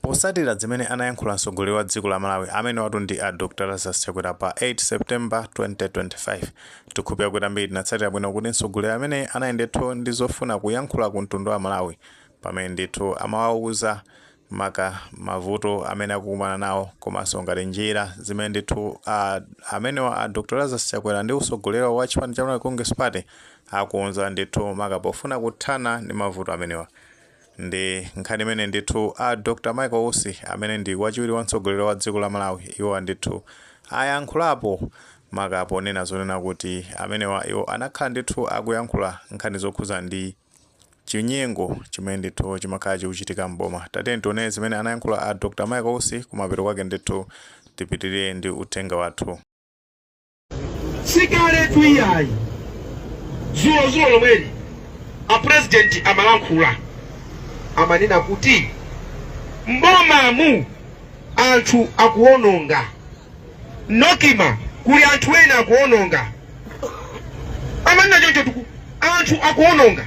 Posatira zimene anayankhula mtsogoleri wa dziko la Malawi amenewatu ndi a Dr Lazarus Chakwera pa 8 September 2025 tikhulupira kuti ambiri tinatsatira bwino kuti mtsogoleri ameneyi anali ndithu ndi zofuna kuyankhula ku mtundu wa Malawi pamene ndithu amawauza maka mavuto amene akukumana nawo komanso ngati njira zimene ndithu a amenewa a Dr Lazarus Chakwera ndi utsogoleri wa chipani cha Malawi Congress Party akonza ndithu maka pofuna kuthana ndi mavuto amenewa. Ndi nkhani imene ndithu a Dr Michael Usi amene ndi wachiwiri wa mtsogoleri wa dziko la Malawi iwowa ndithu ayankhulapo maka ponena zonena kuti amenewa iwo anakhala ndithu akuyankhula nkhani zokhudza ndi chinyengo chimene ndithu chimakhala chikuchitika m'boma. Tatiyeni tione zimene anayankhula a Dr Michael Usi kumapeto kwake ndithu tipitirire ndi uthenga wathu. sikaletu iyayi zulo zulo lomweli apurezidenti amalankhula amanena kuti mbomamu anthu akuwononga NOCMA kuli anthu ena akuwononga amanena chonchotu kuti anthu akuwononga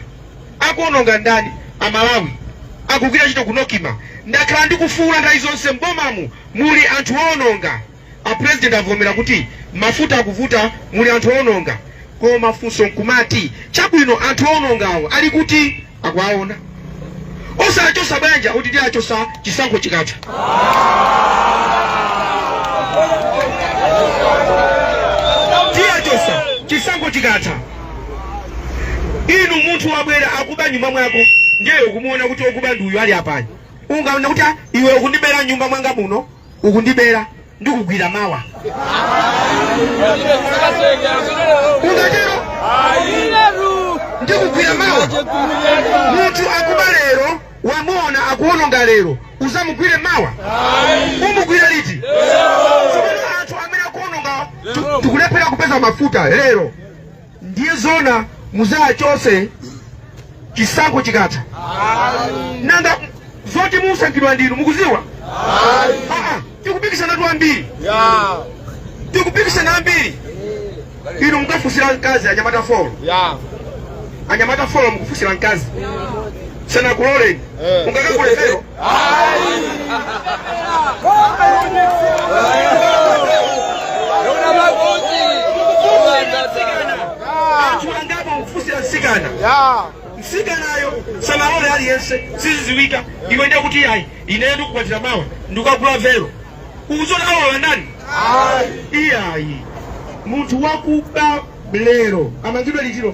akuwononga ndani amalawi akugwira ntchito ku NOCMA ndakhala ndikufuula nthawi zonse mbomamu muli anthu owononga A president avomera kuti mafuta akuvuta muli anthu oononga koma funso nkumati chabwino anthu oonongawo ali kuti? Akuwaona? Osawachosa bwanji akuti tiwachosa chisankho chikatha. Tiwachosa chisankho chikatha. Inu munthu wabwera akuba m'nyumba mwako ndiye ukumuona kuti okuba ndi uyu ali apayu. Unganene kuti "iwe ukundibera m'nyumba mwanga muno ukundibera ndikugwira mawa ungatero ndikugwira mawa munthu akuba lero wamuona akuononga lero uzamugwire mawa umugwira liti anthu amene akuononga tikulephera kupeza mafuta lero Ndiye zona muzawachose chisankho chikatha nanga zoti musankhidwa ndinu mukuziwa ah, tikupikisanatu ambiri tikupikisana ambiri inu mukafusira mkazi anyamata folo anyamata folo mukufusira mkazi sanakuloleni mungakagule vero msikana msikanayo sanalole aliyense siziziwika iwe ndiye kuti ayi ineyo ndikukwatira mawa ndikukagula vero uziona awa wanani iyayi munthu wakuba lero amangidwe liti lero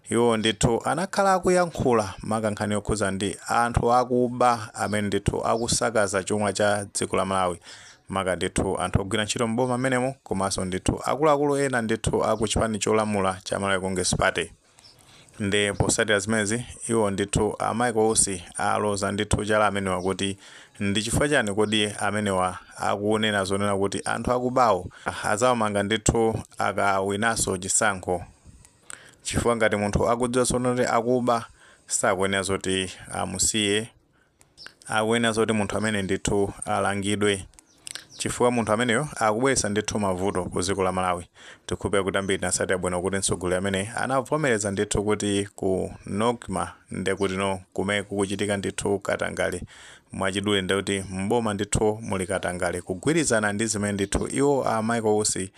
Iwo ndithu anakhala akuyankhula maka nkhani yokhuza ndi anthu akuba amene ndithu akusakaza chuma cha dziko la Malawi maka ndithu anthu ogwira ntchito m'boma mmenemo komanso ndithu akuluakulu ena ndithu aku chipani cholamula cha Malawi Congress Party. Nde posatira zimenezi iwo ndithu a Michael Usi aloza ndithu chala amenewa kuti ndi chifukwa chani kodi amenewa akunena zonena kuti anthu akubawo azawamanga ndithu akawinaso chisankho. chifukwa ngati munthu akudziwa zonoti akuba sakuyenera zoti amusiye akuyenera zoti munthu amene ndithu alangidwe chifukwa munthu ameneyo akubweretsa ndithu mavuto ku dziko la malawi tikhulupira kuti ambiri tinasatira bwino kuti mtsogoleriyu amene anavomereza ndithu kuti ku nocma nde kutinso kumene kukuchitika ndithu katangale mwachidule nde kuti mboma ndithu muli katangale kugwirizana ndi zimene ndithu iwo a michael usi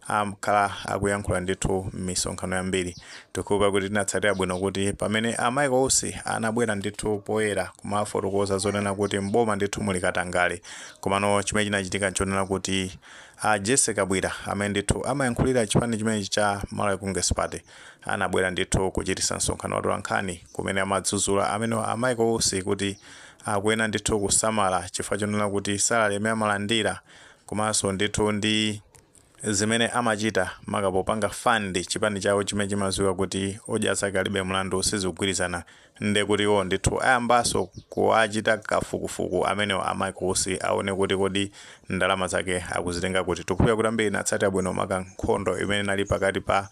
Akhala akuyankhula ndithu mmisonkhano yambiri. Tikukhulupira kuti tinatsatira bwino kuti pamene a Michael Usi anabwera ndithu poyera kumafotokoza zonena kuti m'boma ndithu muli katangale. Komano chimene chinachitika nchonena kuti a Jessy Kabwira amene ndithu amayankhulira chipani chimenechi cha Malawi Congress Party anabwera ndithu kuchitisa msonkhano wa atolankhani kumene amadzuzula amenewa a Michael Usi kuti akuyenera ndithu kusamala chifukwa chonena kuti salary yomwe amalandira komanso ndithu ndi Zimene amachita maka popanga fund chipani chawo chimene chimaziwika kuti odya zake alibe mlandu sizikugwirizana nde kuti iwowo ndithu ayambaso kuwachita kafukufuku amenewo a Michael Usi awone kuti kodi ndalama zake akuzitenga kuti. Tikukhulupira kuti ambiri tinatsatira bwino maka nkhondo imene inali pakati pa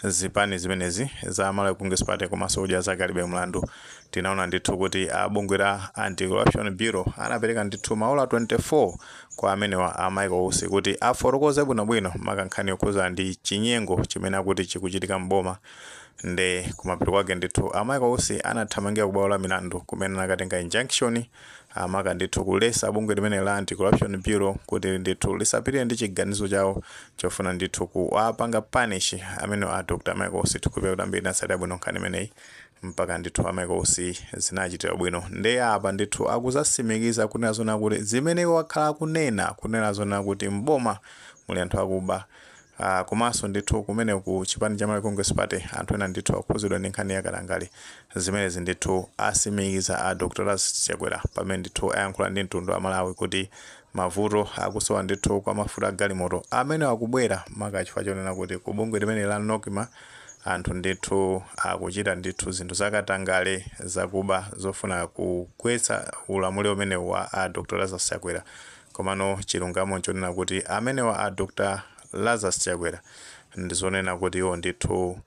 zipani zimenezi za Malawi Congress Party komaso odya zake alibe mlandu tinaona ndithu kuti a bungwe la Anti-Corruption Bureau anapereka ndithu maola 24 kwa amenewa a Michael Usi kuti afotokoze bwinobwino maka nkhani yokhuzana ndi chinyengo chimene akuti chikuchitika m'boma nde kumapeto kwake ndithu a Michael Usi anathamangira ku bwalo la milandu kumene anakatenga injunction amaka ndithu kulesa bungwe limene la anti-corruption bureau kuti ndithu lisapitire ndi chiganizo chawo chofuna ndithu kuwapanga punish amene a Dr. Michael Usi tikukhulupira kuti ambiri tinatsatira bwino nkhani imeneyi mpaka ndithu a Michael Usi zinawachitira ubwino nde apa ndithu akuzasimikiza kunena zona kuti zimene iwo akhala akunena kunena zona kuti mboma muli anthu akuba Uh, komanso ndithu kumene ku chipani cha Malawi Congress Party anthu ena ndithu akhuzidwa ndi nkhani ya katangale zimenezi ndithu asimikiza a Dr. Lazarus Chakwera pamene ndithu ayankhula ndi mtundu wa Malawi kuti Mavuto akusowa ndithu kwa mafuta a galimoto amenewa akubwera maka chifukwa chonena kuti ku bungwe limeneli la Nocma anthu ndithu akuchita ndithu zinthu za katangale, zakuba zofuna kugwetsa ulamuliro umenewu wa a Dr Lazarus Chakwera komano chilungamo nchonena kuti amenewa a Dr Lazarus Chakwera ndizonena kuti iwo ndithu.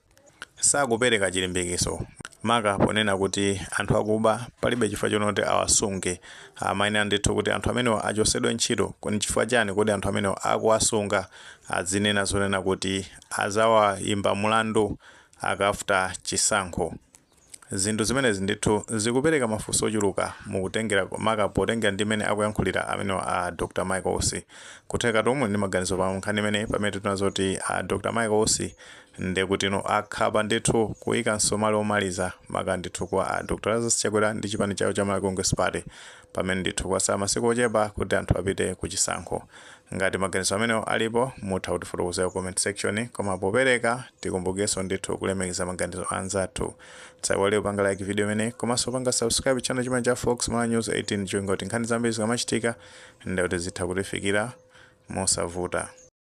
sakupereka chilimbikiso maka ponena kuti anthu akuba palibe chifukwa chonoti awasunge amayenera ndithu kuti anthu amenewa achosedwe ntchito ndi chifukwa chani kodi anthu amenewa akuwasunga adzinena zonena kuti azawayimba mulandu cha after chisankho Zinthu zimenezi ndithu zikupereka mafunso ochuluka nkutengera maka potengera ndi mmene akuyankhulira amenewa a Dr Michael Usi. Kutheka tomwe muli ndi maganizo pa nkhani imeneyi pamene titaona zoti a Dr Michael Usi ndekuti akhoma ndithu kuika nsomali omaliza maka ndithu kwa a Dr Lazarus Chakwera ndi chipani chawo cha Malawi Congress Party pamene ndithu kwatsala masiku ochepa kuti anthu apite ku chisankho. Ngati maganizo amenewo alipo, mutha kutifotokozera ku comment section. Koma popereka, tikumbukenso ndithu kulemekeza maganizo a anzathu. Musaiwale kupanga like video imeneyi komanso kupanga subscribe channel chimenechi cha Fox Malawi News 18 cholinga kuti nkhani zambiri zikamachitika, ndiye kuti zitha kukufikirani mosavuta.